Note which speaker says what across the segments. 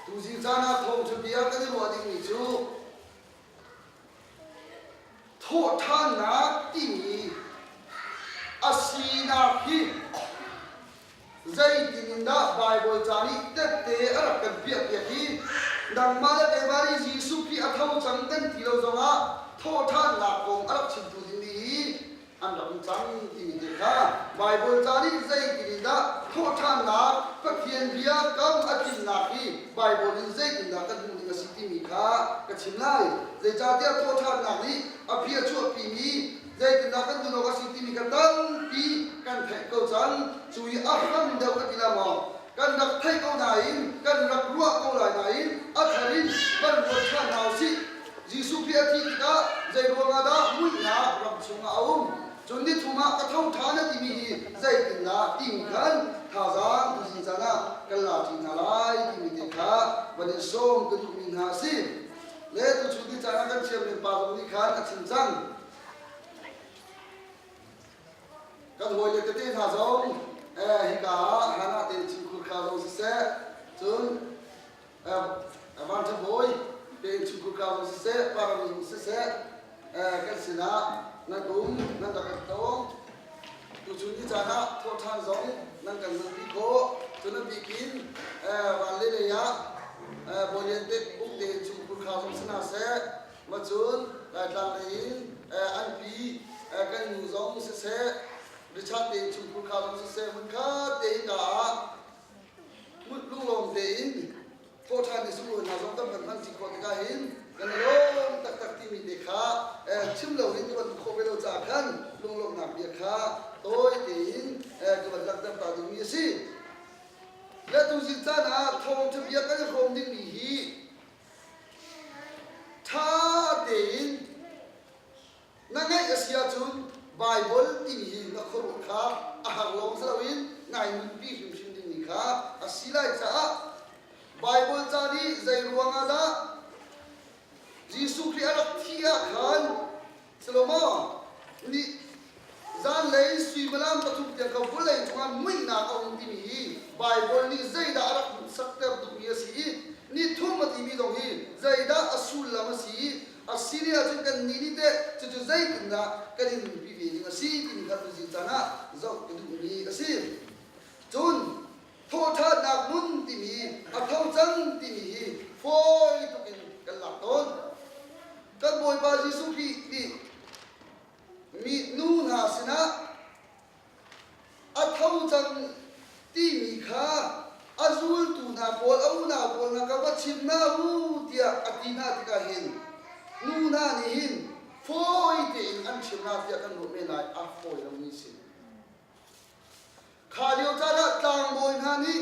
Speaker 1: Tuzing caan ah thawngṭhabia kan i ruah dingmi cu thawhṭhannak timi a sinak hi zeitin in dah Baibal ca nih tette a rak kan piahpiak i nangmah le keimah nih Jesuh Khrih a tho cang kan ti lo zongah thawhṭhannak kong a rak chimtu ding ding i an rak cang timi te kha Baibal ca nih zeitin in dah thawhṭhannak Pathian bia kam a tlinnak hi Baibal in zeitindah kan hmuh ning a si timi kha ka chim lai. Zeicahtiah thawhṭhannak nih a bia chuahpimi zeitindah kan hmuh awk a si timi kha tampi kan theih ko cang. Cu i a hram deuh a ti lai maw? Kan rak theih ko nain kan rak ruah ko lai nain a thar in kan ruat ṭhan hna u sih. Jesuh Khrih a thih tikah zeiruang ah dah muihnak ram chungah a um? Cun nithum ah ka tho ṭhan a timi hi zeitindah tiin khan thazaang kan in caan ah kan lati hna lai timi te kha van in sawm kan duhmi hna a si. Le tuchun ni caan ah kan thiamlim pa zong nih khan a chim cang. Kan hawile tete hna zong eh, hika ah Hannah te thingkhur kha zong siseh, cun Van Ṭha Bawi, tein chim ku kau siseh, parami siseh, kan sinah nan um, nan rak kan tong. Tuchun ni caan ah thawhṭhan zong nan kan nunpi khawh. Cu nan bikin van le lei ah Bawlian tek buk tein chim ku kau zong si na seh, macun Laitlang lei in an pi kan nu zong siseh, Richard tein chim ku kau zong siseh, hmunkhat tein ka ah lunglawm tein thawhṭhan i sunglawi hna zong tam kan hman ṭi khawh tikah hin kan lawm taktak timi te kha chim lo in kan hmuh khawh ve lo caah khan lunglawmhnak bia kha tawi tein ka van langhter ta dingmi a si. Le tuzing caan ah thawngṭha bia kan hrawm dingmi hi ṭha tein Na ngaih a si ahcun Baibal timi hi na khuaruah kha a har lawng si loin ngai nunpi hrimhrim dingmi kha a si lai caah Baibal ca nih zei ruang ah dah Jesuh Khrih a rak thih ah khan Salomo nih zanlei suimilam pathum tiang kha vawlei cungah muihnak a um timi hi Baibal nih zeidah a rak hmuhsakter tukmi a si i nithum a timi zong hi zeidah a sullam a si i A si lio ahcun kannih nih teh cucu zeitindah kan in nunpi ve ding a si timi kha tuzing caan ah zoh ka duhmi a si. Cun thawhṭhannak hmun timi a tho cang timi hi fawi tuk in kan lak tawn. Kan Bawipa Jesuh Khrih nih mi nu hna sinah A tho cang timi kha a zultu hna pawl a unau pawl hna kha va chim hna u tiah a ti hna tikah hin nu hna nih hin fawi tein an chim hna tiah kan ruah men lai a fawi lomi a si. Kha lio caan ah tlangbawi hna nih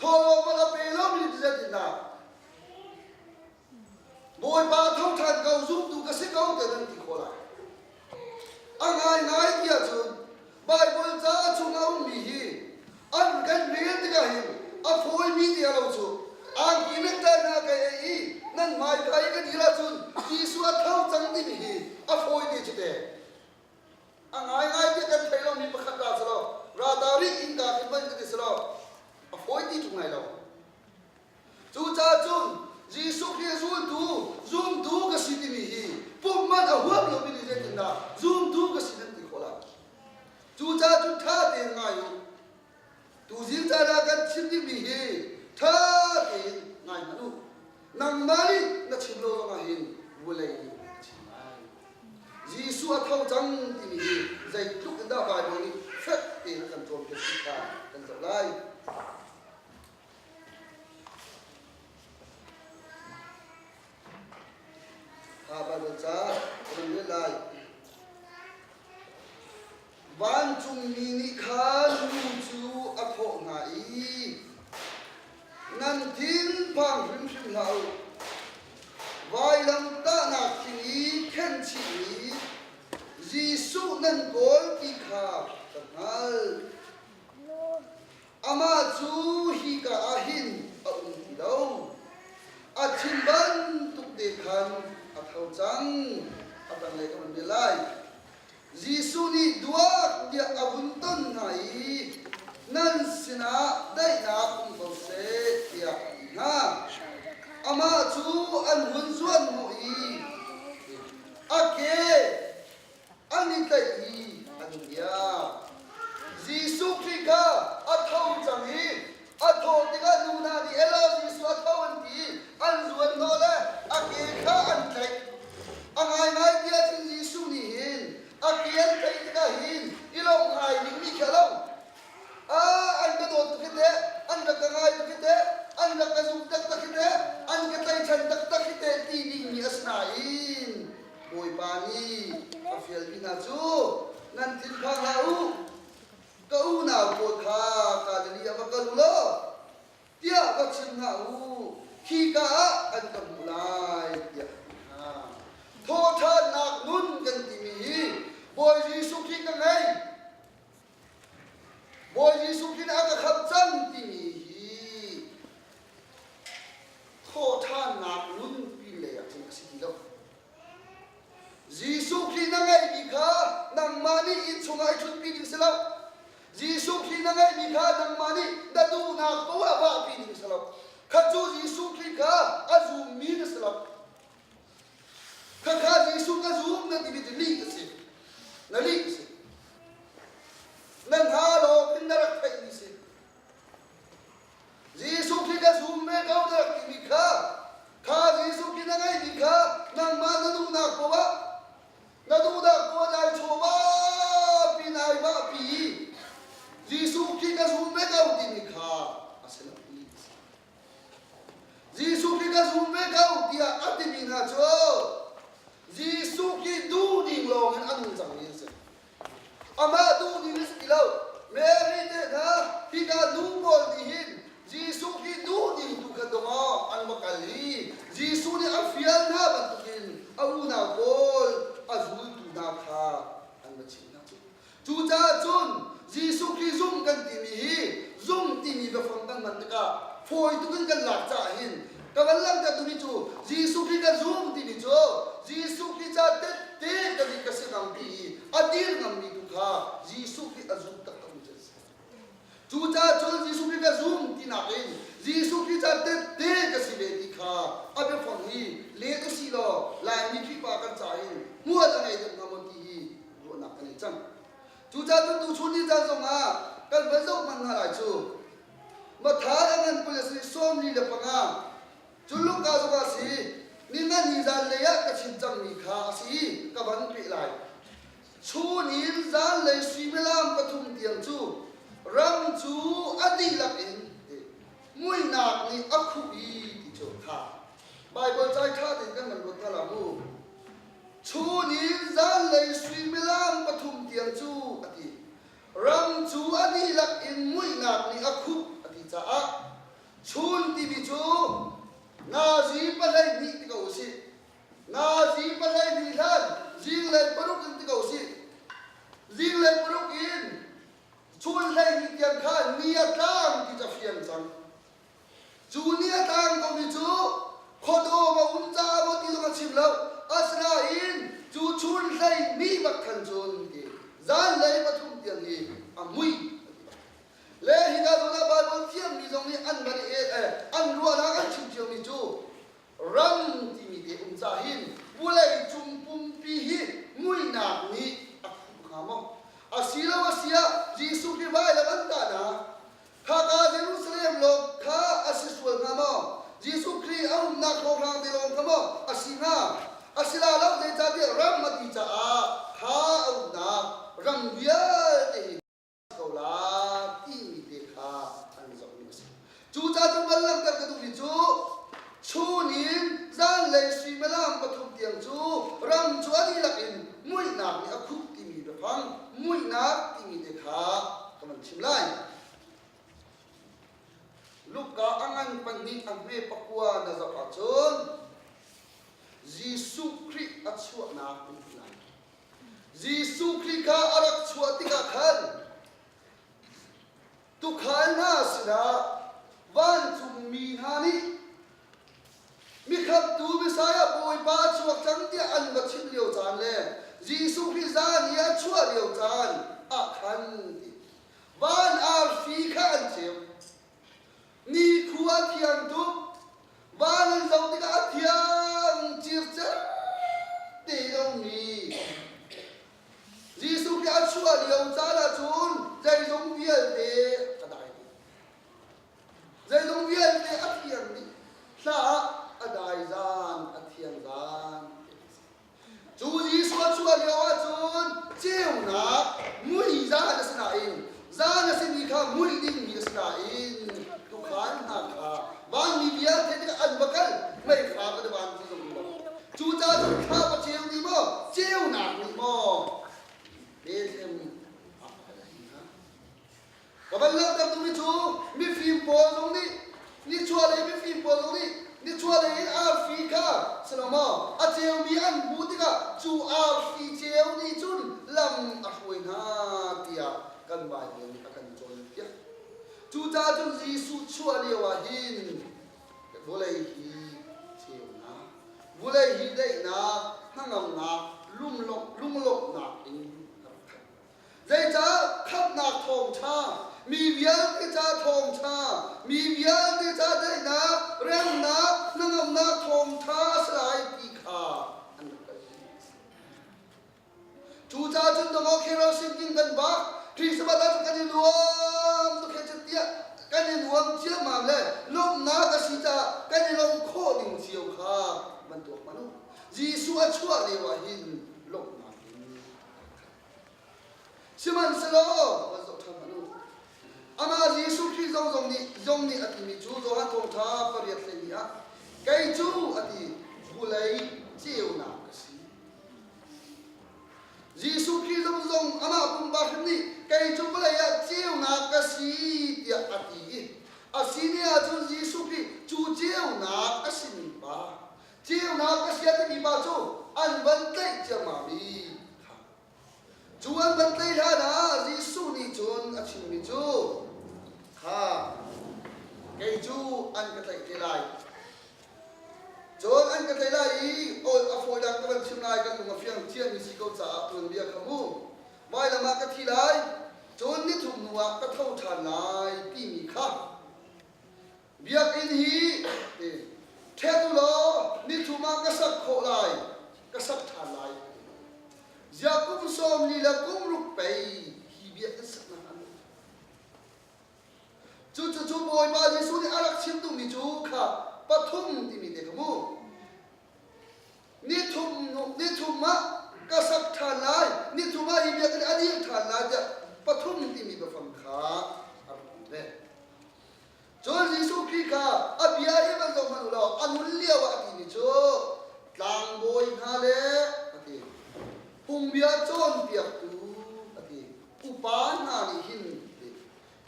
Speaker 1: Thawhlawm a pe lomi vialte hna, Bawipa thawng ṭhan ko zumtu ka si ko tiah nan ti khawh lai. A ngaingai ti ahcun Baibal ca chung a ummi hi an kan mel tikah hin a fawimi ti a lo cu angki mekṭai hna ka ei i nan hmaikai ka dir ahcun Jesuh a tho cang timi hi a fawi te cu te. A ngaingai ti kan thei lomi pakhat ta si lo, ralta rih in kaa khi hman kan ti si lo, a fawi ti ṭung lai lo. Cucaah cun Jesuh Khrih zultu, zumtu ka si timi hi pumh man a huap lomi nih zeitindah zumtu ka si nan ti khawh lai? Cucaah cu ṭha tein ngai u. Tuzing caan ah kan chim dingmi hi ṭha tein ngaingan u. Nangmah nih na chim lo ruangah hin vawlei nih a chim lai. Jesuh a tho cang timi hi zeitluk in dah Baibal nih fek tein a kan cawnpiak ti kha kan zoh lai. Kha Baibal ca ka man let lai. Vancungmi nih khan nu cu a thawh hna i, Nan thinphang hrimhrim hlah u. Vailamtahnak thing i khenhchihmi Jesuh nan kawl ti kha ka hngalh. Amah cu hika ah hin a um ti lo. A chim bantuk te khan a tho cang, a tanglei ka van bia lai. Jesuh nih Duak tiah a vun ton hna i nan sinah daihnak um ko seh tiah a ti hna. Amah cu an hun zuanhnawh i a ke an i tlaihmi an bia. Jesuh Khrih kha a tho cang i A thawh tikah nu hna nih Ella Isua tho an ti i an zuan hnawh le a ke kha an tlaih. A ngaingai ti ahcun Jesuh nih hin a ke an tlaih tikah hin i lawmh ngai dingmi khi a lo. Ah, an ka dawt tuk hi teh, an rak ka ngai tuk hi teh, an rak ka zumh taktak hi teh, an ka tlaihchan taktak hi teh ti dingmi a si nain Bawipa nih a fialmi hna cu nan thinphang hlah u. Ka unau pawl kha Galilee ah va kal u law tiah va chim hna u, khika ah an ka hmuh lai tiah a ti hna. Thawhṭhannak nun kan timi hi Bawi Jesuh Khrih ka ngei, Bawi Jesuh Khrih nih a ka khamh cang timi hi thawhṭhannak nunpi lei ah tling a si ti lo. Jesuh Khrih na ngeihmi kha nangmah nih innchungah i ṭhutpi ding si lo. Jesuh Khrih na ngeihmi kha nangmah nih na duhnak tu ah vahpi ding si lo. Kha cu Jesuh Khrih kha a zummi na si lo. Khakha Jesuh na zum na timi cu lih a si. Na lih a si. Na hna lawng in na rak theihmi si. Jesuh Khrih na zum ve ko na timi kha kha Jesuh Khrih na ngeihmi kha nangmah na duhnak poah na duhnak poah dai chawva pi nai va pi Jesuh Khrih ka zum ve ko timi kha a si lo ti a si. Jesuh Khrih ka zum ve ko tiah a timi hna cu Jesuh Khrih duh ning lawng in a nung cangmi a si. Amah duhning a si ti lo. Mary tehna, hika nu pawl nih hin Jesuh hi duhning tu kha dongah an va kal i Jesuh nih a fial hna bantukin a unau pawl a zultu hna kha an va chimh hna cu. Cucaah cun Jesuh Khrih zumh kan timi hi zumh timi biafang kan hman tikah fawi tuk in kan lak caah hin Ka van langhtertu nih cu Jesuh Khrih kan zum timi cu Jesuh Khrih ca tehte kan i ka si ngammi i a dir ngammi tu kha Jesuh Khrih a zum taktakmi cu an si. Cucaah cun Jesuh Khrih ka zum tinak in Jesuh Khrih ca tehte ka si ve ti kha a biafang hi let usihlaw Laimi Khrihfa kan ca in hmual a ngei deuh hnga maw ti hi ruahnak ka ngei cang. Cucaah cun tuchun ni caan zongah kan van zoh hmanh hna lai cu Mathai a ngan pui a si sawmli le panga. Cun Luka zong a si, ningan ni zanlei ah ka chim cangmi kha a si, ka van peh lai. Chun in zanlei suimilam pathum tiang cu rang cu a dihlak in muinak nih a khuh i ti cu kha Baibal cai ṭha tein kan kan ruat hna la mu. Chun in zanlei suimilam pathum tiang cu a ti. Ram cu a dihlak in muihnak nih a khuh a ti caah chun timi cu Nazi pahleihnih ti ko usih, Nazi pahleihnih hlan zinglei paruk in ti ko usih, zinglei paruk in chun hleihnih tiang khan ni a tlang ti cu a fiang cang. Cu nih a tlang komi cu khuadawm a um caah maw ti zong a chim lo, asinain cu chun hlei ni bak khan cun ti zanlei pathum tiang hi a mui a ti. Le hi hna zawn ah Baibal thiammi zong nih an man eh, an ruahnak an chim ciomi cu ram timi te um ca hin vawlei cung pumpi hi muinak nih a khuh hnga maw? Asiloasiah Jesuh hi vailam an tahnak Khaka Jerusalem lawng kha a si sual hnga maw? Jesuh Khrih a umnak hlawhhlang te lawng kha maw a si hnga? A si la lo, zeicahtiah ram a ti caah kha a umnak ram vialte hi ko la timi te kha an zohmi a si. Cucaah cu val langhter ka duh hi cu Chun in zanlei suimilam pathum tiang cu ram cu a dihlak in muihnak nih a khuh timi biafang muihnak timi te kha ka van chim lai. Luka a ngan pahnih a hme pakua na zoh ahcun Jesuh Khrih a chuahnak an ti lai. Jesuh Khrih kha a rak chuah tikah khan Tuukhal hna sinah vancungmi hna nih mikhamtu Messiah Bawipa a chuak cang tiah an va chimh lio caan le Jesuh Khrih zan i a chuah lio caan ah khan ti van arfi kha an ceu nikhu a thiang tuk van an zoh tikah a thiang circer te lomi Jesuh nih a chuah lio caan ahcun zeizong vialte a dai dih. Zeizong vialte a phiar dih. Hla ah a dai zaan, a thian zaan ti a si. Cu Jesuh a chuah lio ahcun ceunak mui zaan a si nain Zan a simi kha hmuih dingmi a si nain tuukhal hna kha vanmi vialte tikah an va kal, mei kha va van ti zung lo. Cucaah thla va ceu ni maw, ceunak ni maw, Bethlehem ni ah a kal hna. Va van langhter duhmi cu mifim pawl zong nih Nichuahlei mifim pawl zong nih nichuahlei in arfi kha si lo maw a ceumi an hmuh tikah cu arfi ceu nih cun lam a hruai hna tiah kan Baibal nih a kan cawnpiak. Cucaah cun Jesuh chuah lioah hin vawlei hi ceunak, vawlei hi daihnak, hnangamnak, lunglawmhnak in a rak khat. Zeicah khamhnak thawngṭha, mi vialte ca thawngṭha, mi vialte ca daihnak, remnak, hnangamnak thawngṭha a si lai ti kha an rak kalpi. Cucaah cun Dongok Hero Singing kan bak, Christmas ah kan i nuam tuk he tiah kan i nuam ciammam le lawmhnak a si caah kan i lawm khawh ding cio kha van tuak ma law Jesuh a chuah lio ah hin lawmhnak in Sihmanhsehlaw van zoh ṭhan hmanh u. Amah Jesuh Khrih zong zong nih zong nih a timi cu Johan Thawngṭha pariat hleihnih ah kei cu a ti vulei ceunak ka si. Jesuh Khrih zong zong amah pumpa hrim nih kei cu vawlei ah ceunak ka si tiah a ti i a si ni ahcun Jesuh Khrih cu ceunak a sining pa Ceunak ka sia timi pa cu an van tlaih ciammam i cu an van tlaih hlan ah Jesuh nih cun a chimmi cu kha kei cu an ka tlaih te lai cun an ka tlaih lai i ol a fawi dang ka van chim lai kan lung a fiang ciami si ko caah tuanbia kha mu vailam ah ka thi lai cun nithum hnu ah ka tho ṭhan lai timi kha Biakinn hi ṭhen u law ni thum ah ka sak khawh lai, ka sak ṭhan lai. Ziah kum sawm li le kum ruk pei hi biakinn saknak an um. Cucucu Bawipa Jesuh nih a rak chim duhmi cu kha pathum timi te kha mu. Ni thum, ni thum ah ka sak ṭhan lai, ni thum ah hi biakinn a dil ṭhan lai tiah pathum timi biafang kha a rak um ve. Cun Jesuh Khrih kha a bia i van zoh hmanh u law a hmun lioah a timi cu tlangbawi hna le a ti, phungbia cawnpiaktu a ti, upa hna nih hin a ti,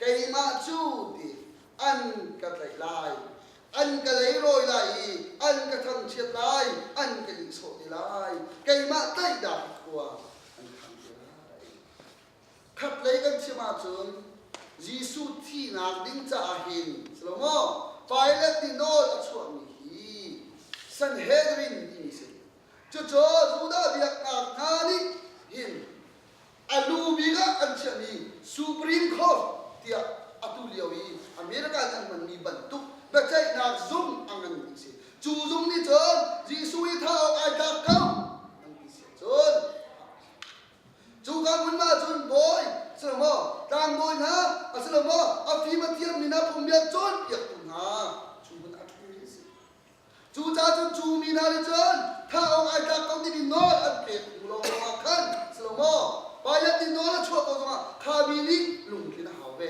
Speaker 1: keimah cu ti an ka tlaih lai, an ka leirawi lai i an ka thangchiat lai, an ka ihsawh te lai, keimah tlaihdah khua an khang te lai. Khatlei kan chim ahcun Jesuh thihnak ding caah hin si lo maw Pilat nih nawl a chuahmi hi Sanhedrin timi si. Cucu Judah biaknak hna nih hin a lu bik ah an chiahmi Supreme Court tiah atu lio i America nih an hmanmi bantuk biaceihnak zung a nganmi a si. Cu zung nih cun Jesuh hi thah awk ai tlak ko an ti si ahcun Cuka hmun ah cun bawi si lo maw, tlangbawi hna a si lo maw, a fim a thiammi hna phungbia cawnpiaktu hna, cu hmun a ṭhumi a si. Cucaah cun cu mi hna nih cun thah awk ai tlak ko dingin nawl an pek hnu lawngah khan si lo maw, Pilat nih nawl a chuah ko zongah kha mi nih lungtlin a hau ve.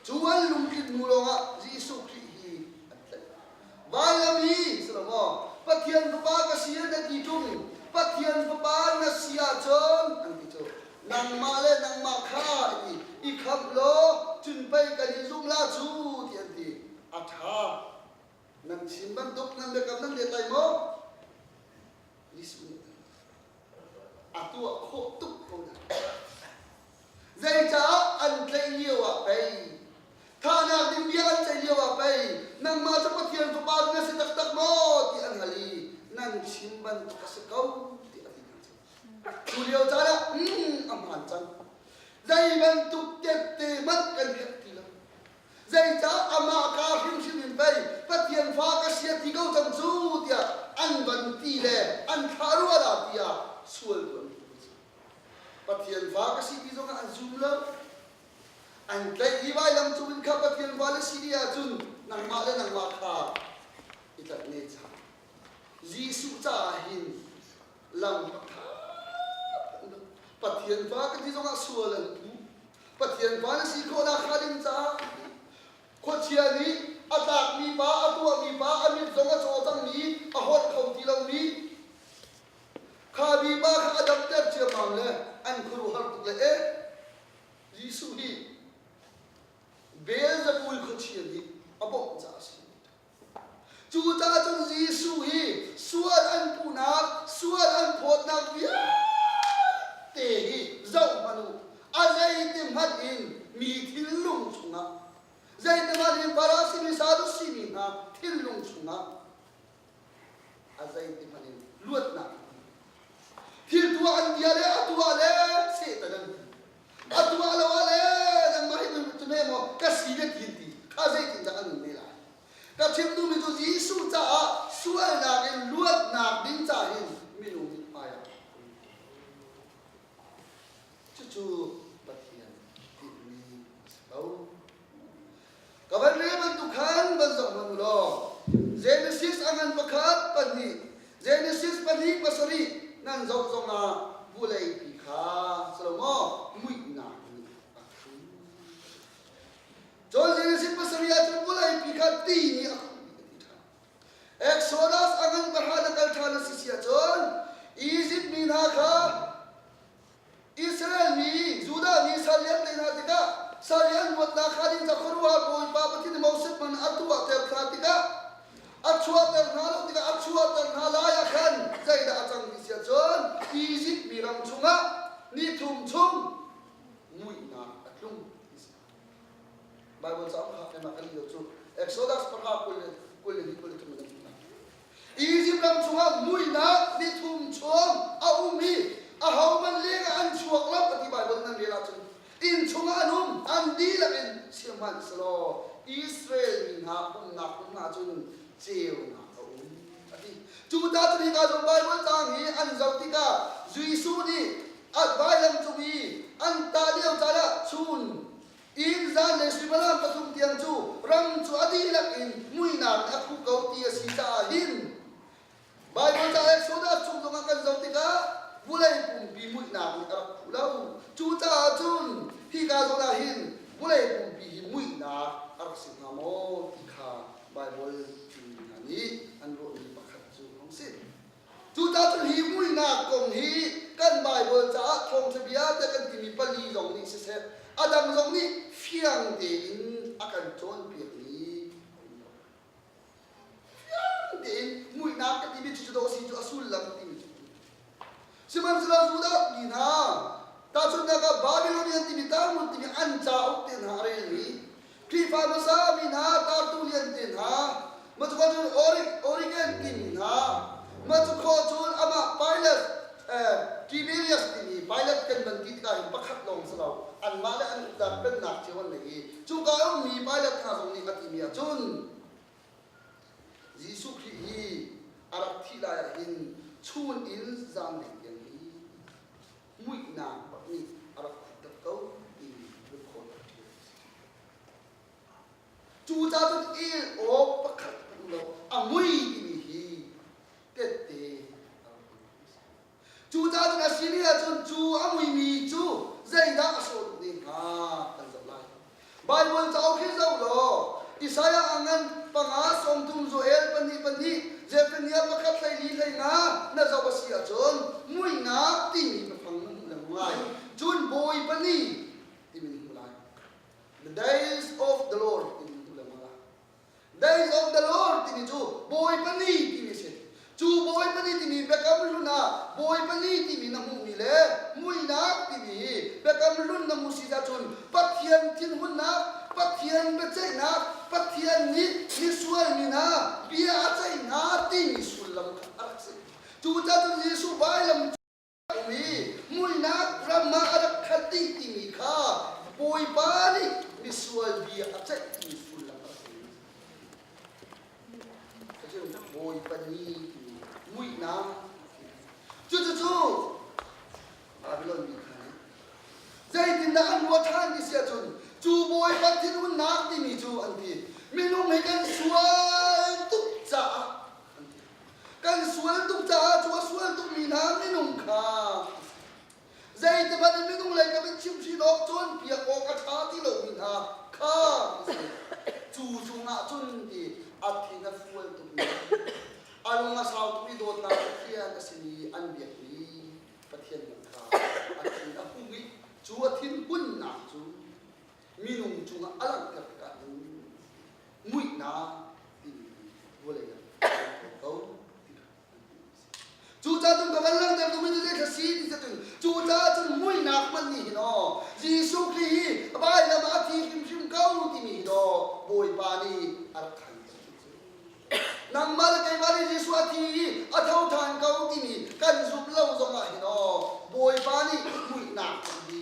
Speaker 1: Cu an lungtlin hnu lawngah Jesuh Khrih hi an tlaih lai. Vanlami si lo maw? Pathian Fapa ka si an ti ṭung. Pathian Fapa na si ahcun an ti cu. Nangmah le nangmah kha an ti. I khamh law cun pei kan in zumh la cu ti an ti. A ṭha. Nan chim bantuk nan biakam nan let lai maw? Jesuh nih a tuah khawh tuk ko lai. Zeicah an tlaih lioah pei? Thahnak nih bia an ceih lioah pei nangmah cu Pathian fapa na si taktak maw ti an hal i nan chim bantuk a si ko ti an ti hna cu. Cu lio caan ah mm, a hmaan cang. Zei bantuk tette hmanh kan herh ti lo. Zeicah amah ka hrimhrim in pei Pathian fa ka si a ti ko cang cu tiah an van ti le an thlah rua la tiah sual tuah mi cu a si. Pathian fa ka si ti zong ah an zum lo. An tlaih i vailam cungin kha Pathian fa na si dih ahcun nangmah le nangmah kha i tat ne cang. Jesuh caah hin lam a ṭha. Pathian fa ka ti zong ah sual an um. Pathian fa na si khawh nakhnga ding caah khuachia nih a tlakmi pa, a tuahmi pa, a mit zong a caw cangmi, a holh kho ti lomi Kha diba kha a damter ciammam le an khuaruahhar tuk le eh Jesuh hi Beelzebul khuachia nih a bawmh caah a si. Cucaah cun Jesuh hi sual an puhnak, sual an phawtnak vialte hi zoh hmanh u. A zeitihmanh in mi thinlung chungah, zeitihmanh in Farasi mi, Sadusi mi hna thinlung chungah A zei ti hmanh in luatnak thil tuah an bia le a tuah le Satan an ti a tuah lo ah le nangmah hi cu ne maw ka si le ti ti kha zeitin dah an ne lai ka chim duhmi cu Jesuh caah sualnak in luatnak ding ca hin minung nih hmaiah cucu Pathian tinhmi a si ko Ka van le bantuk khan van zoh hmang u law Genesis a ngan pakhat pahnih Genesis pahnih pasarih nan zoh zong ah vulei pi kha Salomo muihnak nih a hrum. Cun Genesis pasarih ahcun vulei pi kha ti nih a hrum a ti ṭhan. Exodus a ngan pahra na kal ṭhan a si si ahcun Izipt mi hna kha Israel mi, Judah mi sal lian te hna tikah sal lian huatnak kha ding ca khuaruah Bawipa Pathian i Moses man atu ah ter hna tikah a chuahter hna lo tikah a chuahter hna lai ah khan zeidah a cang ti si ahcun Izipt mi ram chungah ni thum chung muihnak a tlung ti si. Bible cauk ha thema kan lio cu Exodus para kul le kul le li kul le thum in a thi hna. Izipt ram chungah muihnak ni thum chung a um i ahohmanh lengah an chuak lo a ti Baibal nan rel ahcun inn chungah an um, an dihlak in sihmanhsehlaw Israel mi hna umnak hmun ah cun ceunak a um a ti. Cu ta cu hika zong Baibal caang hi an zoh tikah Jesuh nih a vailam cung i an tah lio caan ah chun Inn zan le suimilam pathum tiang cu ram cu a dihlak in muihnak nih a khuh ko ti a si caah hin Baibal ca Exodus chung zong ah kan zoh tikah vulei pumpi muihnak nih a rak khuh lo. Cucaah cun hika zawn ah hin vulei pumpi hi muihnak a rak si hnga maw ti kha Baibal cu mi hna nih an ruahmi pakhat cu a hung si. Tutan hi muihnak kong hi kan Baibal caah thawngṭha biate kan timi pali zong nih siseh, a dang zong nih fiang tein a kan cawnpiakmi a um lo. Fiang tein muihnak ka timi cucu daw si cu a sullam timi cu. Sihmanhsehlaw Judah mi hna, tahchunhnak ah Babilonian timi Talmud timi an cauk te hna a relmi Khrihfa hmasa mi hna tartu liante hna, mah cu cun Origen timi hna, mah cu khaw cun amah Pilate, Tiberias timi Pilate kan van ti tikah hin pakhat lawng si lo, anmah le an uknak pennak cio an ngei i cuka i ummi Pilate hna zong nih a timi ah cun Jesuh Khrih hi a rak thih lai ah hin chun in zaang deng tiang hi muihnak pak nih a rak khuhter ko timi lungkhawh tak ṭhiam a si. Cu cacun el awk pakhat um lo, a mui timi hi tette a rak hmuh a si. Cu cacun a simi ahcun cu a muimi cu zeidah a sawt ne hnga kan zoh lai. Baibal cauk hi zoh law Isaiah a ngan panga sawmthum Joel pahnih pahnih Zephaniah pakhat hleili hlei nga na zoh a si ahcun mui nga timi hmafang nan hmu lengmang lai. Cun bawi pahnih timi na hmu lai. The days of the Lord timi na hmu lengmang lai. Days of the Lord timi cu bawi pali timi a si. Cu bawi pali timi Biakam Hlun ah bawi pali timi na hmuhmi le muinak timi hi Biakam Hlun na hmuh si ahcun Pathian thinhunnak, Pathian biaceihnak, Pathian nih misualmi hna bia a ceih hna timi sullam kha a rak si. Cucacun Jesuh vailam mi muinak ram ah a rak khat dih timi kha Bawipa nih misual bia a ceih timi sullam a si. Cun Bawipa ni timi muihnak Cucucu Babylon mi kha nih zeitindah an ruah ṭhan ti si ahcun cu Bawipa thinhunnak timi cu an ti minung hi kan sual tuk caah an ti Kan sual tuk caah cu a sual tukmi hna minung kha zeitikhmanh in minung lei ka mit chimhrin awk cawnpiak awk a ṭha ti lomi hna kha cu cungah cun ti a thin a fual tukmi a lung a sau tukmi dawtnak Pathian a simi an biakmi Pathian hna kha a thin a hung i cu a thinhunnak cu minung cungah a langhter tikah in muihnak timi vawlei ah kan ko Cucacun ka van langhter tu mi tu zeithla si ti cun cucacun muinak hman ni hin o Jesuh Khrih hi vailam ah thi hrimhrim ko timi hi do Bawipa nih a khan nangmal keimah nih Jesuh a thi i a tho than ko timi kan zumh lo zongah hin o Bawipa nih muihnak hi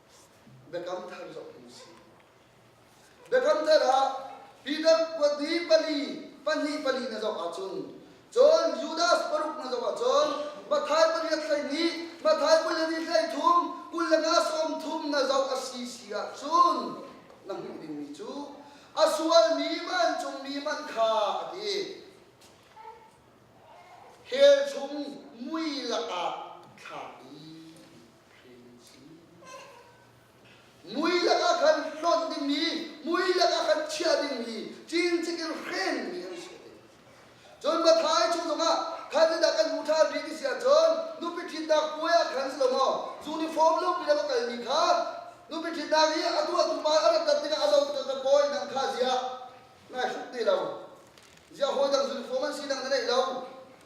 Speaker 1: Biakam Thar zong hi si. Biakam Thar ah Peter pali pali pahnih pali na zong ahcun cun Judas paruk na zong ahcun Mathai pali a thlei ni Mathai pali ni thlei thum kul le nga sawm thum na zong a si si ahcun na hmuh dingmi cu a sualmi vancungmi man kha a ti hell chung mui lakah thlak i mui lakah khan hlonh dingmi mui lakah khan chiah dingmi cincik in hrenmi an si cun mathai chung zongah khan ni dah kan hmu ṭhan rih ti si ahcun nupi ṭhitnak puai ah khan si lo maw uniform lupi na ka kalmi kha nupi ṭhitnak i a tuahtu pa an rat tikah a zo ka pawi nang kha zia ngai hruk ti lo zia hawi dang uniform an si nang na neih lo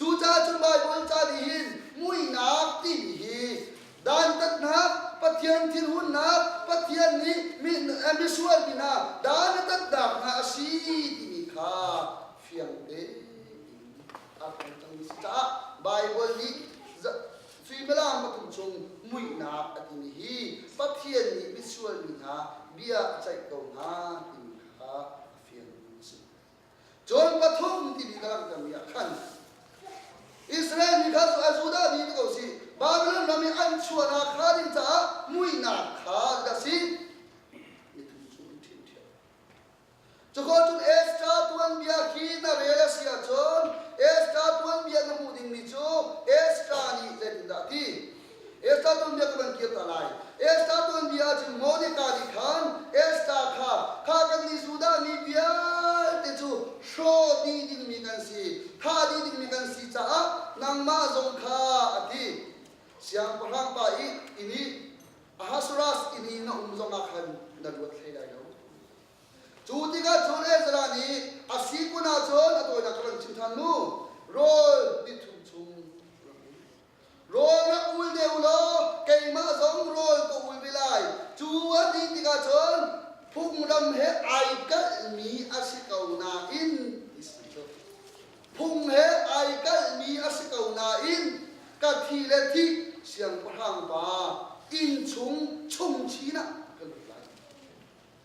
Speaker 1: Cucaah cu Baibal ca nih hin muihnak timi hi dantatnak, Pathian thilhunnak, Pathian nih misual mi hna dan a tatnak hna a si timi kha fiang tein a kan tangmi si caah Baibal nih suimilam pathum chung muihnak a timi hi Pathian nih misual mi hna bia a ceih ko hna timi kha a fiang a si. Cun pathum timi ka langhtermi ah khan Israel mi kha cu a Judah mi ti ko si Babilon ram i an chuahnak hnga ding caah muihnak kha ka si mi tu cu an ṭhinthiam. Cuko cun Esther tuanbia khi na rel a si ahcun Esther tuanbia na hmuh dingmi cu Esther nih zeitindah a ti? Esther tuanbia ka van kirter lai. Esther tuanbia ah cun Monica nih khan Esther kha, Kha kannih Judah mi vialte cu hrawh dih dingmi kan si, thah dih dingmi kan si caah nangmah zong kha, a ti. Siangpahrang pa i inn i Ahasueras inn i na um zong ah khan na luat hlei lai lo. Cu tikah cun Ezra nih a si kun ah cun a tawinak kha van chim ṭhan mu, rawl nithum chung rak um. Rawl rak ul deuh law keimah zong rawl ka ul ve lai. Cu a dih tikah cun phunglam he ai kalhmi a si ko nain ti si cu phung he ai kalhmi a si ko nain ka thi le thih siangpahrang pa inn chung chung chin ah ka lut lai.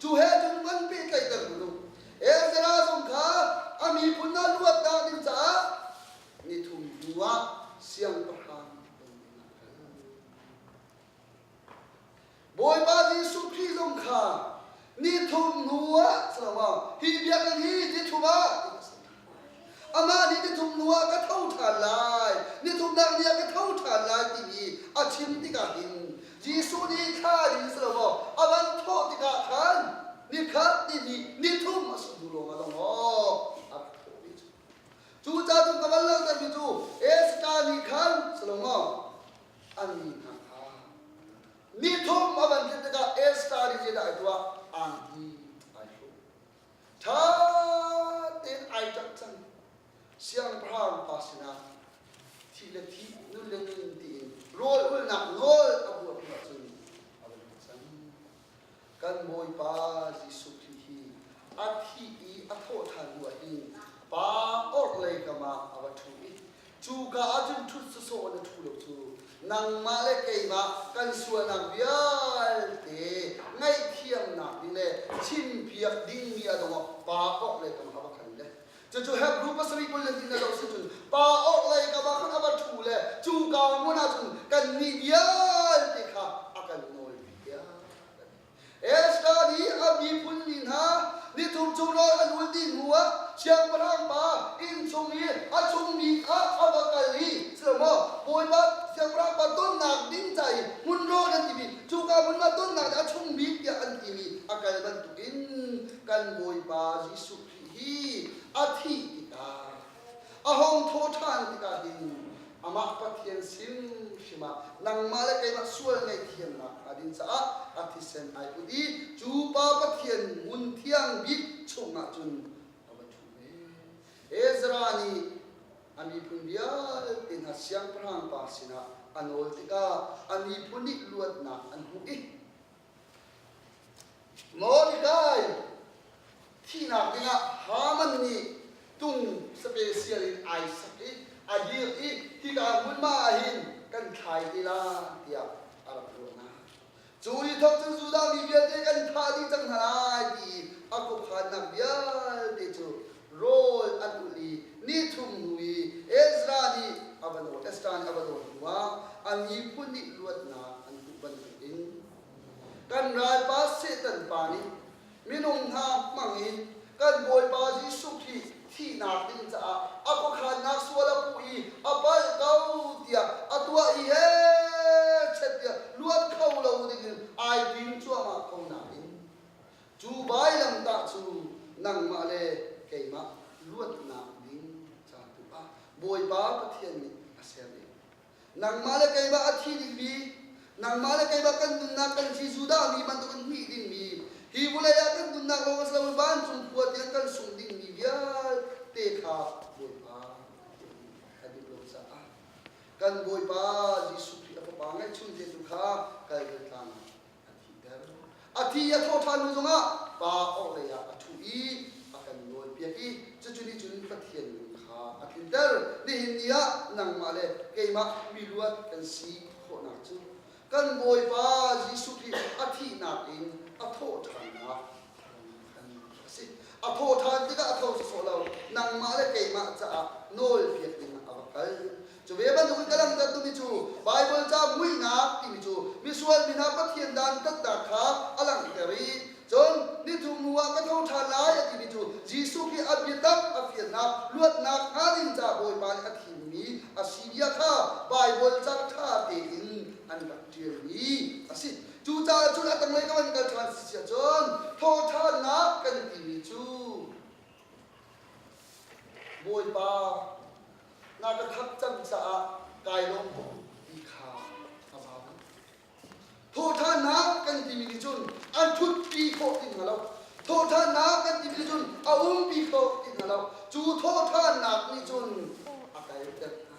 Speaker 1: Cu he cun van pehtlaihter u. Ezra zong kha a miphun ah luat dah ding caah ni thum hnuah siangpahrang Bawipa Jesuh Khrih zong kha ni thum hnuah si lo ah hi biakinn hi ni thum ah ti a si. Amah nih nithum hnuah ka tho ṭhan lai, nithumnak ni ah ka tho ṭhan lai timi a chim tikah hin Jesuh nih thla in si lo maw a van thawh tikah khan ni khat ni hnih ni thum a si hnu lawngah zong aw a rak thawh ve cu. Cucaah ka van langhtermi cu Esther nih khan si lo maw an mi hna kha ni thum a van thlen tikah Esther nih zeidah a tuah? Angki ai hruk. ṭha tein ai ṭang cang. Siangpahrang pa sinah thi le thi, nun le nun tiin rawlulnak nawl a buar hnu ahcun a um cang. Kan Bawipa Jesuh Khrih hi a thih i a thawh ṭhan hnu ah hin pa orhlei kam ah a va ṭhu i Cuka ah cun ṭhut sawsawh in a ṭhu lo cu nangmah le keimah kan sualnak vialte ngaihthiamnak ding le chimpiak dingmi a dongah pa orhlei kong a va khan le cucu Hebru pasarih kul le tin a lo si cun pa orhlei ka va khan a va ṭhu le cuka hmun ah cun kannih vialte kha a kan nawl piak Esther nih a miphun mi hna nithum cu rawl an ul dih hnuah siangpahrang pa inn chung i a chungmi kha a va kal i, Sihmanhsehlaw Bawipa siangpahrang pa tonnak ding ca i hmun rawn an timi, cuka hmun ah tonnak nih a chung bik tiah an timi a kal bantukin kan Bawipa Jesuh Khrih hi a thih tikah A hong thaw ṭhan tikah hin amah Pathian sin hrim ah nangmah le keimah sual ngaihthiamnak hnga ding caah a thisen ai put i cu pa Pathian ngun thiang bik chungah cun a va ṭhu ve. Ezra nih a miphun vialte hna siangpahrangpa sinah a nawl tikah a miphun nih luatnak an hmuh i Mordecai thihnak dingah Haman nih tung special in ai sak i a dir i hika hmunhma ah hin kan thlai ti la tiah a rak ruahnak. Cu ni thok cu Judah mi vialte kan thah dih cang hna lai ti i a khuakhannak vialte cu rawl a tulh i ni thum hnu i Ezra nih a va dawn, Esther nih a va dawn hnuah a miphun nih luatnak an hmuh bantukin kan ralpa Satan pa nih minung hna hmangin kan Bawipa Jesuh Khrih thihnak ding caah a khuakhannak sual a puh i a palh ko tiah a tuah i he chet tiah luat kho lo dingin ai tim cuahmah ko nain Cu vailamtah cu nangmah le keimah luatnak ding caan tu ah Bawipa Pathian nih a serning. Nangmah le keimah a thi dingmi, nangmah le keimah kan nunnak kan si Judah mi bantuk in hnih dingmi, hi vulei ah kan nunnak lawng si loin vancung khua tiang kan sung dingmi vialte kha Bawipa a duh lo caah kan Bawipa Jesuh Khrih a Fapa ngeihchun te tu kha Kalvary tlang ah a thihter. A thi i a thawh ṭhan hnu zongah pa orhlei ah a ṭhu i a kan nawlpiak i cucu nih cun Pathian min kha a tlinter. Nihin ni ah nangmah le keimah miluat kan si khawhnak cu kan Bawipa Jesuh Khrih a thihnak in a thawh ṭhannak khan a si. A thawh ṭhan tikah a tho sawsawh lo, nangmah le keimah caah nawlpiak ding a va kal. Cu ve bantuk in ka langhter tumi cu Baibal ca muihnak timi cu misual mi hna Pathian dan taktak kha a langhter i cun nithumnu ah ka tho ṭhan lai a timi cu Jesuh Khrih a biatak a fial hna luatnak hnga ding ca Bawipa nih a thimmi a si bia kha Baibal ca ṭha tein an rak ṭialmi a si. Cucaah cun a tanglei kam an kal ṭhan si siah cun thawhṭhannak kan i timi cu Bawipa, nga ka khat cang caah kai lawm maw ti kha a zam. Thawhṭhannak kan timi nih cun an ṭhutpi khawh ti hna lo. Thawhṭhannak kan timi nih cun a umpi khawh ti hna lo. Cu thawhṭhannak nih cun a kalter hna.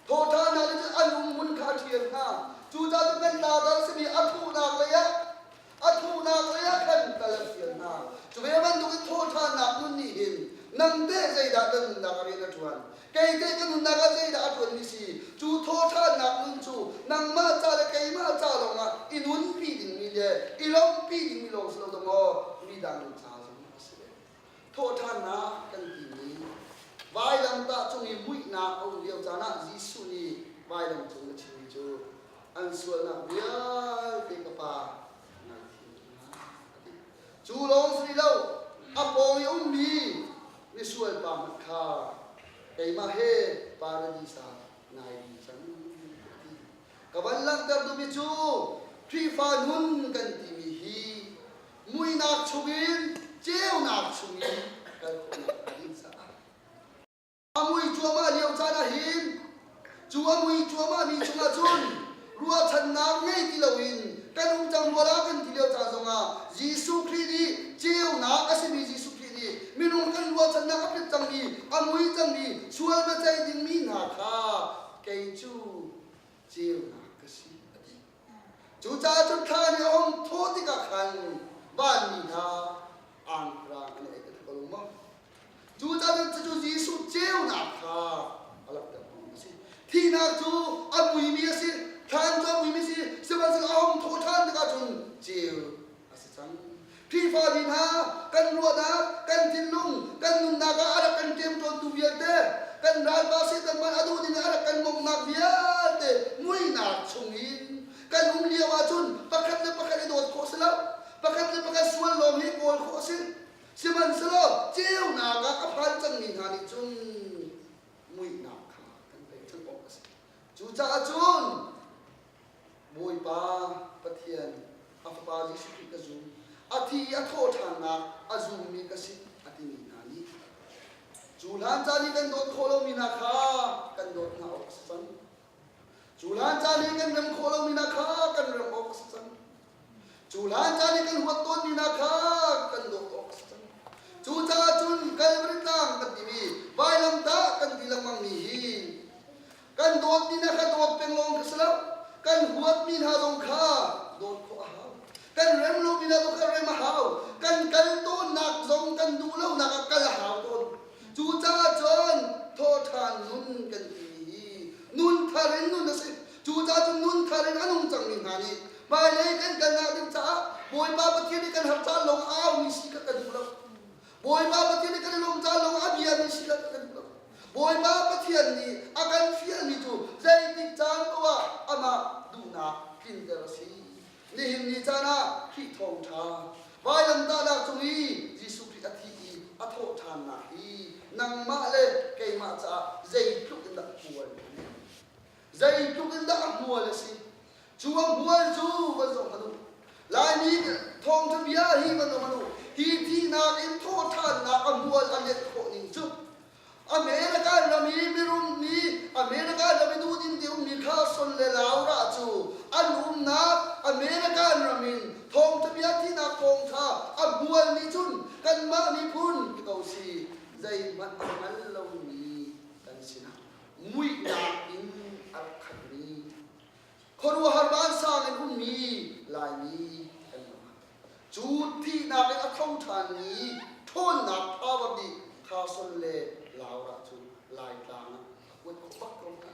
Speaker 1: Thawhṭhan ah cun an humhun kha a ṭhial hna. Cucaah nan tlautar simi a thuhnak leiah a thuhnak leiah khan kal a fial hna. Cu ve bantukin thawhṭhannak nun nih hin nang teh zeidah ka nunnak ah rian a ṭuan? Kei teh ka nunnak ah zeidah a ṭuanmi si? Cu thawhṭhannak nun cu nangmah ca le keimah ca lawngah i nunpi dingmi le i lawmhpi dingmi lawng si lo maw, midang ca zong a si ve. Thawhṭhannak kan timi vailamtah cung i muihnak a um lio caan ah Jesuh nih vailam cung a chimmi cu an sualnak vialte ka Pa ngaithiam hna a ti. Cu lawng si lo, a pawng i ummi misualpa hmanh kha keimah he paradis ah nai din cang a ti. Ka van langhter duhmi cu Khrihfa nun kan timi hi muinak chungin ceunak chungin kan um a dih caah a mui cuahmah lio caan ahhin cu a mui cuahmahmi chungah cun ruahchannak ngei ti loin kan um cang rual ah kan ti lio caan zongah Jesuh Khrih nih ceunak a simi Jesuh Khrih nih minung kan ruahchannak a pet cangmi a mui cangmi sual biaceih dingmi hna kha kei cu ceunak ka si a ti Cucaah cu thla ni a hong thaw tikah khan vanmi hna aangrang an ei ko lung maw. Cucaah cucu Jesuh ceunak kha a langhter a si. Thihnak cu a muimi a si, thlan cu a muimi a si, sihmanhsehlaw a hong thaw ṭhan tikah cun ceu a si cang. Khrihfami hna kan ruahnak, kan thinlung, kan nunnak ah a rak kan ṭemṭawntu vialte, kan ralpa Satan man a duh ding ah a rak kan bawmhnak vialte muihnak chung in kan um lio ahcun pakhat le pakhat i dawt khawh si lo. Pakhat le pakhat sual lawng hi kawl khawh a si. Sihmanhsehlaw ceunak ah a phan cangmi hna nih cun muihnak kha kan pek chan awk a si. Cucaah cun Bawipa Pathian a fapa Jesuh Khrih ka zum a ti i a thawhṭhannak a zummi ka si a timi hna nih cu hlan caan i kan dawt khawh lomi hna kha kan dawt hna awk a si cang. Cu hlan caan i kan rem khawh lomi hna kha kan rem awk a si cang. Cu hlan caan i kan huat tawnmi hna kha kan dawt awk a si cang. Cucaah cun Kalvary tlang kan timi vailamtah kan ti lengmangmi hi kan dawtmi hna kha dawt peng lawng kha si lo, kan huatmi hna zong kha dawt khawh a hau. Kan rem lomi hna zong kha rem a hau. Kan kal tawnnak zong kan duh lonak ah kal a hau tawn. Cucaah cun thawhṭhan nun kan timi hi nun thar in nun a si. Cu cacun nunkhar in a nung cangmi hna nih hmailei kan kalnak ding caah Bawipa Pathian nih kan har caan lawng ah aumi si kha kan duh lo. Bawipa Pathian nih kan i lawm caan lawng ah biami si kha kan duh lo. Bawipa Pathian nih a kan fialmi cu zeitik caan poh ah amah duhnak tlinter a si. Nihin ni caan ah Khrih Thawngṭha vailamtahnak cung i Jesuh Khrih a thi i a thawhṭhannak hi nangmah le keimah caah zeitluk in dah puan a nem. Zeitluk in dah a hmual a si! Cu a hmual cu van zoh hmanh u. Laimi thawngṭha bia hi van zoh hmanh u, hi thihnak in thawhṭhannak a hmual a lianh khawh ning cu, American ram i mirum mi, American ram i duhdim te ummi Carson le Laura cu an umnak American ram in thawngṭha bia thihnak thawngṭha a hmual nih cun kanmah miphun, ti ko si, zeihmanh a hngal lomi kan si nakhnga. muihnak in a rak khatmi khuaruahhar vansang in ummi Laimi kan ngah. Cu thihnak in a tho ṭhanmi ṭhawnnak thava bik Khason le Laura cu Laitlang ah a kuat khawh bak ko hna.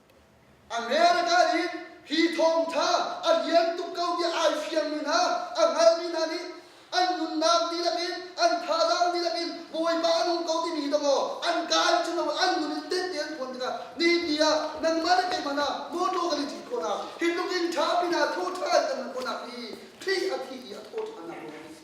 Speaker 1: America nih hi thawngtha a lian tuk ko tiah ai fiangmi hna, a hngalmi hna nih an nunnak dihlak in, an thazaang dihlak in Bawipa a nung ko timi hi donglaw an kai cu lo an nun in tette an phuan tikah nihin ah nangmah le keimah hna mawtaw kan i ṭhit khawhnak, hi tluk in ṭha pin ah thaw ṭha in kan nun khawhnak hi thli a thi i a thaw ṭhan nak ruang a si.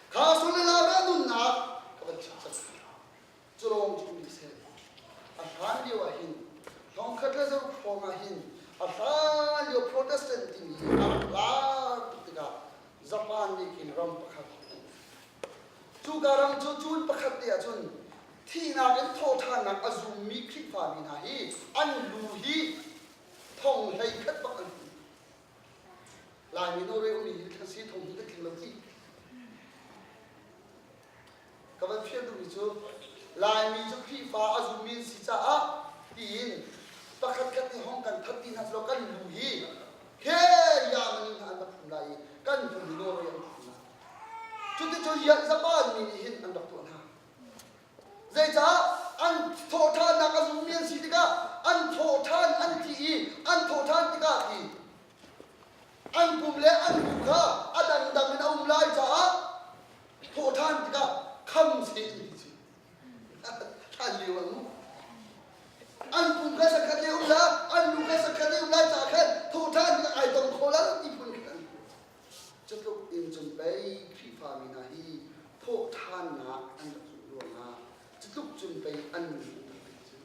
Speaker 1: Kha sulala rah nunnak a van chimhsak hna. Culawng cu mi sel. A hlan lio ah hin hlawngkhat le zokhawng ah hin a hlan lio Protestant timi hi a rak lar tuk tikah Japan nih khin ram pakhat a hmuh. Cuka ram cu cun pakhat te ahcun thihnak in thawhthannak a zummi Khrihfami hna hi an lu hi thong hlei khat bak an hmu. Laimi no re umi hi thlan si thong hi ka tling lo ti. Ka van fian duhmi cu Laimi cu Khrihfa a zummi an si caah tiin pakhat khat nih hong kan that ti hna selaw kan lu hi he yaman in an rak phum lai i kan vun i nawl an rak phum lai. Cuticun Yalzapa mi nih hin an rak tuah hna. Zeicah an thawhṭhannak a zummi an si tikah an thawhṭhan an ti i an thawhṭhan tikah ti an pum le an bu kha a dangdang in a um lai caah thawhṭhan tikah kham sen ti si hlan lio an um an pum kha sakhat i um lai an lu kha sakhat i um lai caah khan thawhṭhan tikah ai tong kho lo ti phun khin an hmuh Cutluk in cun pei Khrihfami hna hi thawhṭhannak an rak hmuh ruangah cutluk cun pei an nun a pit cu.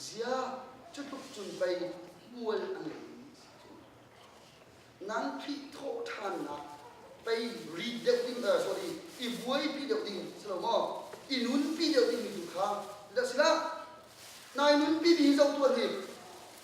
Speaker 1: Ziah cutluk cun pei hmual a ngeimi nan Khrih thawhṭhannak pei ri deuh ding, uh, sorry, i buaipi deuh ding si lo maw? I nunpi deuh dingmi tu kha, si dah, nai nunpi ding hi zoh tuan hi,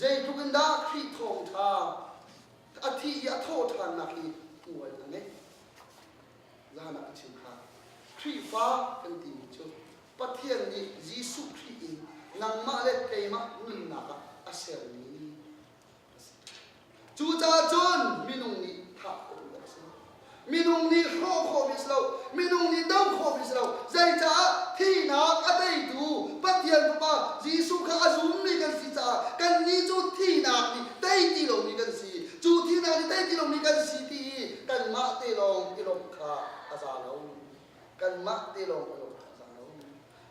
Speaker 1: Zeitluk in dah Khrih thawngṭha a thih i a thawh ṭhannak hi hmual a ngeih. Zan ah a chim kha Khrihfa kan timi cu Pathian nih Jesuh Khrih in nangmah le keimah nunnak ah a sermi a si. Cucaah cun minung nih thah khawh a si. Minung nih hrawh khawh bik si lo. Minung nih do khawh bik si lo. Zeicaah thihnak a teitu Pathian Fapa Jesuh kha a zummi kan si caah kannih cu thihnak nih tei ti lomi kan si. Cu thihnak nih tei ti lomi kan si ti i kanmah te lawng i lawmh kha a za lo. Kanmah te lawng i lawmh kha a za lo.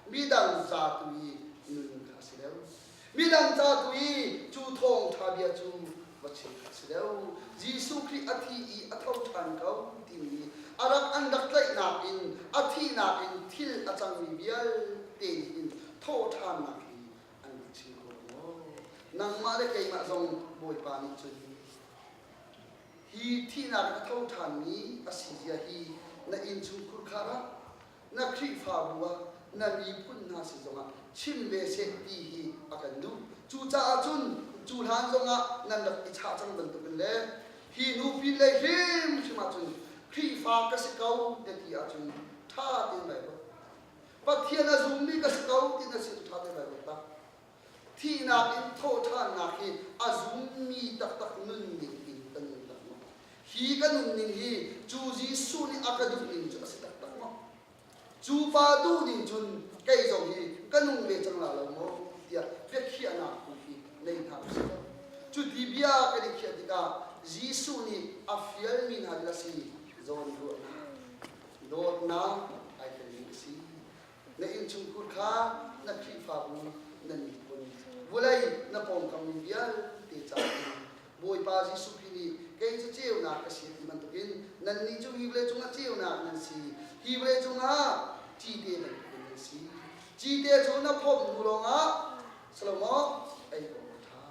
Speaker 1: Midang za tu i nun kha a si deuh. Midang ca tu i cu thawngṭha bia cu va chim a si deuh. Jesuh Khrih a thi i a tho ṭhan ko timi a rak an rak tlaihnak in a thihnak in thil a cangmi vialte nih hin thawhṭhannak hi an rak chim ko maw? Nangmah le keimah zong Bawipa nih cun hi thihnak in a tho ṭhanmi a si zia hi na innchungkhur kar ah na Khrihfabu ah na miphun hna sin zongah chim ve seh ti hi a kan duh. Cucaah cun cu hlan zongah nan rak i chah cang bantukin le hi nu pinlei hrimhrim ah cun Khrihfa ka si ko na ti ahcun ṭha te in rai ruat. Pathian a zummi ka si ko ti na sin cu ṭha te in rai ruat tak. thihnak in thawhṭhannak hi a zummi taktak nunning in ka nunnak maw? Hi ka nunning hi cu Jesuh nih a ka duhning cu a si taktak maw? Cu pa duh ning cun kei zong hi ka nung ve cang la lo maw? tiah biakhiahnak tu khi nei hna usih. Cuti bia kan i khiah tikah Jesuh nih a fialmi hna lila si zawn ruahnak, dawtnak ai telmi a si. na innchungkhur kha na Khrihfabu nan miphun vulei na pawngkammi vialte caah hin Bawipa Jesuh Khrih nih kei cu ceunak ka si ti bantukin nannih cu hi vawleicung ah ceunak nan si, hi vawleicung ah cite bantukin nan si. Cite cu na phomh hnu lawngah Salomo ei awk a ṭha.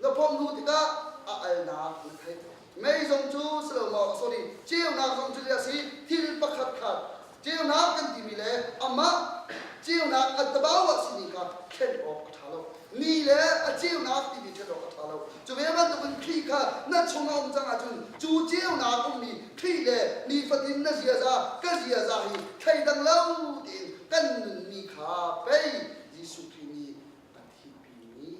Speaker 1: Na phomh hnu tikah a alnak na theih. Mei zong cu si lo maw, sorry, ceunak zong cu hi a si, thil pakhat khat ceunak kan timi le amah ceunak attabau a simi kha thlen awk a ṭha lo. Ni le a ceunak timi thlen awk a ṭha lo. Cu ve bantukin Khrih kha na chung a um cang ahcun cu ceunak ummi Khrih le nifatin na ziaza, ka ziaza hi thleidang lo tiin kan nunmi kha pei Jesuh Khrih nih a thihpimi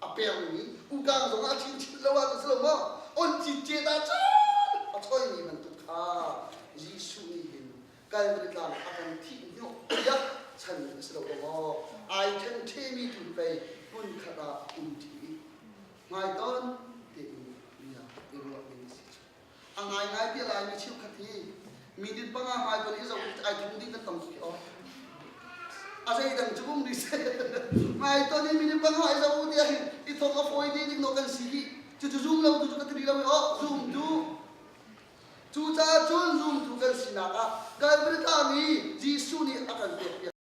Speaker 1: a pengmi kutang zong ah chinchin lo ah na si lo maw oncit ce da cun a choimi bantuk kha Jesuh nih hin Calvary tlang a kan thih nio tiah chan na si lo maw ai ṭhen ṭhemi tu pei hmun khat ah um ṭi hmai ton tein bia i ruah ning a si cu A ngaingai tiah Laimi cheukhat hi minute panga Baibal i zoh ai tlung ding kan tam suai awk. A zeidang cu um dih Ngai ton in minute panga i zoh u tiah hin i thok a fawi dih ding no kan si dih. Cucu zoom lo tu cu ka ti lo oh zoom tu. Cu caah cun zoom tu kan sinak ah Kalvary tlang i Jesuh nih a kan pek piak.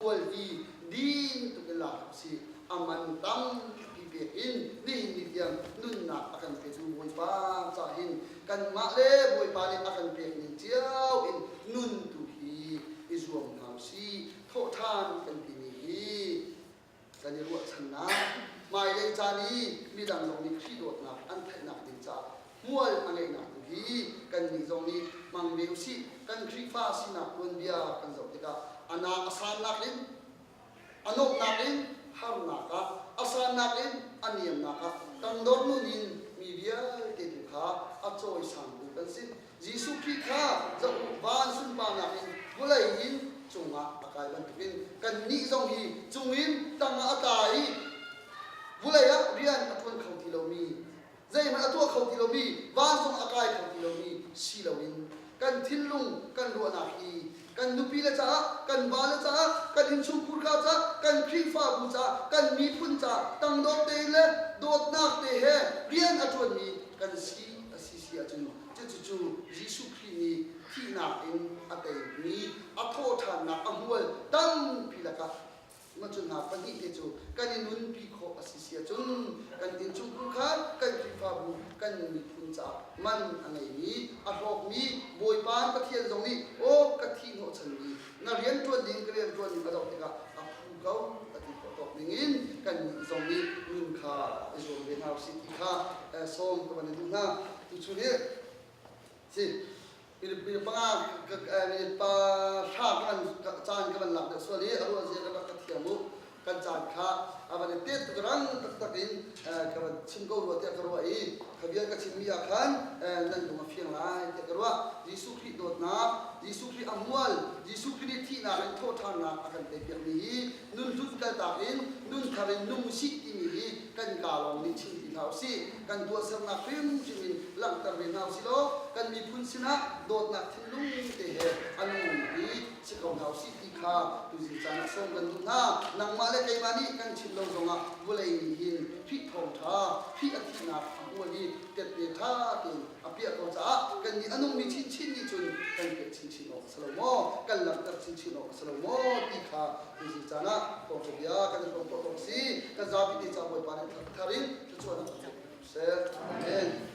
Speaker 1: Khual hi din tuk in lak u sih. A man tampi pek in nihin ni tiang nunnak a kan petu Bawipa ca hin kanmah le Bawipa nih a kan pekning cio in nun tu hi i zuam hna u sih. Thawhṭhan kan timi hi kan i ruahchannak, hmailei caan i midang zong nih Khrih dawtnak an theihnak ding caah hmual a ngeihnak tu hi kannih zong nih hmang ve usih. Kan Khrihfa sinak tuanbia kan zoh tikah a naa a sannak in, a nuamhnak in harnak ah, a sannak in a niamnak ah, tangdor nun in mi vialte tu kha a cawisan tu kan si. Jesuh Khrih kha zoh u, van sunparnak in vawlei in cungah a kai bantukin kannih zong hi cungin tang ah a tla i vawlei ah rian a ṭuan kho ti lomi, zeihmanh a tuah kho ti lomi, vancung a kai kho ti lomi si loin kan thinlung kan ruahnak hi kan nupile caah, kan vale caah, kan innchungkhur ka caah, kan Khrihfabu caah, kan miphun caah tangdor tein le dawtnak te he rian a ṭuanmi kan si a si. si ahcun cucu Jesuh Khrih nih thihnak in a teimi a thawhṭhannak a hmual tampi lakah mah cu hna pahnih te cu kan i nunpi khawh a si si ahcun kan innchungkhar kha kan Khrihfabu kan miphun caah man a ngeimi a hlawkmi Bawipa Pathian zong nih aw ka thih hnawhchanmi Na rianṭuan ding ka rianṭuan ning a dongh tikah a phu ko a ti khawh tawk ningin kannih zong nih nun kha i zuam ve hna usih ti kha sawm ka van i duh hna. Tucu nih si Filipin panga pa hra ka van caan ka van lak deuh sual i a ruahzia ka ka thiam u kan caan kha a van i tenh tuk rang taktak in ka van chim ko rua tiah ka ruah i ka bia ka chimmi ah khan nan lung a fiang lai tiah ka ruah Jesuh Khrih dawtnak Jesuh Khrih a mual Jesuh Khrih nih thihnak in thawhṭhannak a kan teipiakmi hi nun hlun kaltak in nun thar in nung usih timi hi kan kaa lawng nih chim ti hna usih kan tuahsernak hrimhrim in langhter ve hna usih law kan miphun sinah dawtnak thinlung te he a nung i si ko hna usih ti kha tuzing caan ah sawm kan duh hna. Nangmah le keimah nih kan chim lo zongah vawlei nih hin Khrih thawngṭha, Khrih a thihnak a hmual hi tette ṭha tein a piah ko caah kannih a nungmi chinchin nih cun kan pek chinchin awk a si lo maw, kan langhter chinchin awk a si lo maw ti kha tuzing caan ah thawngṭha bia kan i ruah khawh awk a si. Kan zapi te ca Bawipa nih thar thar in thluachuah na cawn ko seh. Amen.